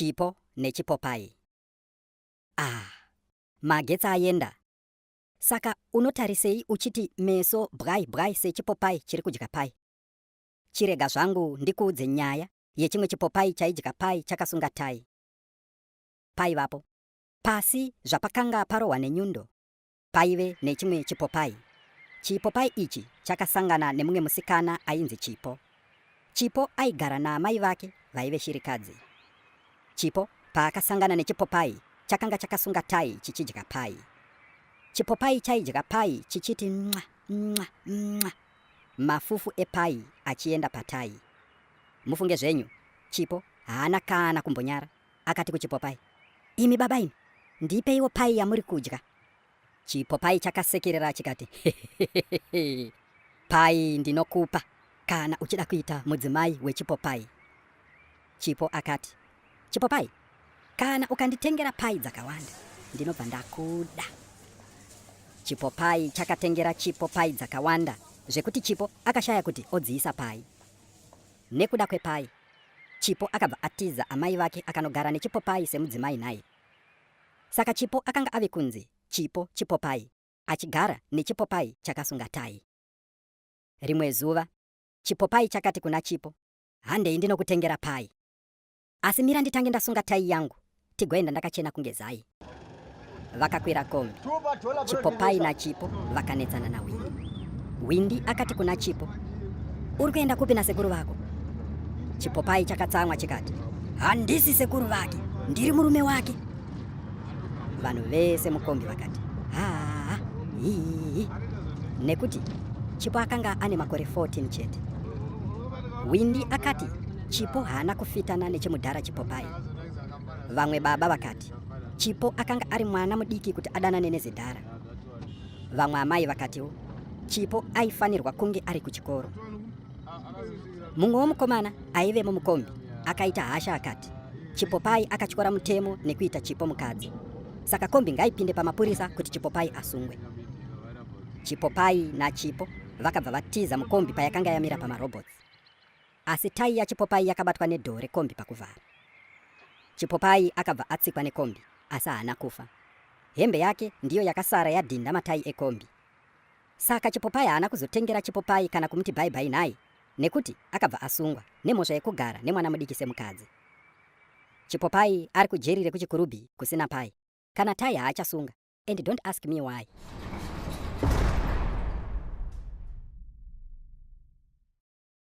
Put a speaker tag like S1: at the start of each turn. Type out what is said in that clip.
S1: Chipo nechipopai. Ah, magetsi ayenda. Saka unotarisei uchiti meso bwai bwai sechipopai chiri kudya pai? Chirega zvangu ndikuudze nyaya yechimwe chipopai chaidya pai chakasunga tai. Paivapo. Pasi zvapakanga parohwa nenyundo. paive nechimwe chipopai. Chipopai ichi chakasangana nemumwe musikana ainzi Chipo. Chipo aigara naamai vake vaive shirikadzi. Chipo paakasangana nechipopai chakanga chakasunga tai chichidya pai. Chipopai chaidya pai chichiti mwa mwa mwa mafufu epai achienda patai. Mufunge zvenyu, Chipo haana kana kumbonyara. Akati kuchipopai, Imi baba imi, ndipeiwo pai yamuri kudya. Chipopai chakasekerera chikati, Hehehehe, pai ndinokupa kana uchida kuita mudzimai wechipopai. Chipo akati, Chipopai, kana ukanditengera pai dzakawanda, ndinobva ndakuda. Chipopai chakatengera Chipo pai dzakawanda zvekuti Chipo akashaya kuti odziisa pai. Nekuda kwepai, Chipo akabva atiza amai vake akanogara neChipopai semudzimai nhai. Saka Chipo akanga ave kunzi Chipo Chipopai achigara neChipopai chakasunga tayi. Rimwe zuva Chipopai chakati kuna Chipo, Handei ndinokutengera payi. Asi mira nditange ndasunga tayi yangu Tigoenda ndakachena kunge zai. Vakakwira kombi. Chipopai naChipo vakanetsana naWindi. Windi akati kuna Chipo, Uri kuenda kupi nasekuru vako? Chipopai chakatsamwa chikati, Handisi sekuru vake, ndiri murume wake. Vanhu vese mukombi vakati, Haa, hii. Nekuti Chipo akanga ane makore 14 chete. Windi akati Chipo haana kufitana nechimudhara Chipopai. Vamwe baba vakati Chipo akanga ari mwana mudiki kuti adanane nezidhara. Vamwe amai vakatiwo Chipo aifanirwa kunge ari kuchikoro. Mumwe womukomana aivemo mukombi akaita hasha akati Chipopai akatyora mutemo nekuita Chipo mukadzi. Saka kombi ngaipinde pamapurisa kuti Chipopai asungwe. Chipopai naChipo vakabva vatiza mukombi payakanga yamira pamarobhots. Asi tayi yaChipopai yakabatwa nedhoo rekombi pakuvhara. Chipopai akabva atsikwa nekombi asi haana kufa. Hembe yake ndiyo yakasara yadhinda matayi ekombi. Saka Chipopai haana kuzotengera Chipopai kana kumuti bye bye nhai nekuti akabva asungwa nemhosva yekugara nemwana mudiki semukadzi. Chipopai ari kujeri rekuChikurubi kusina pai. Kana tayi haachasunga and don't ask me why.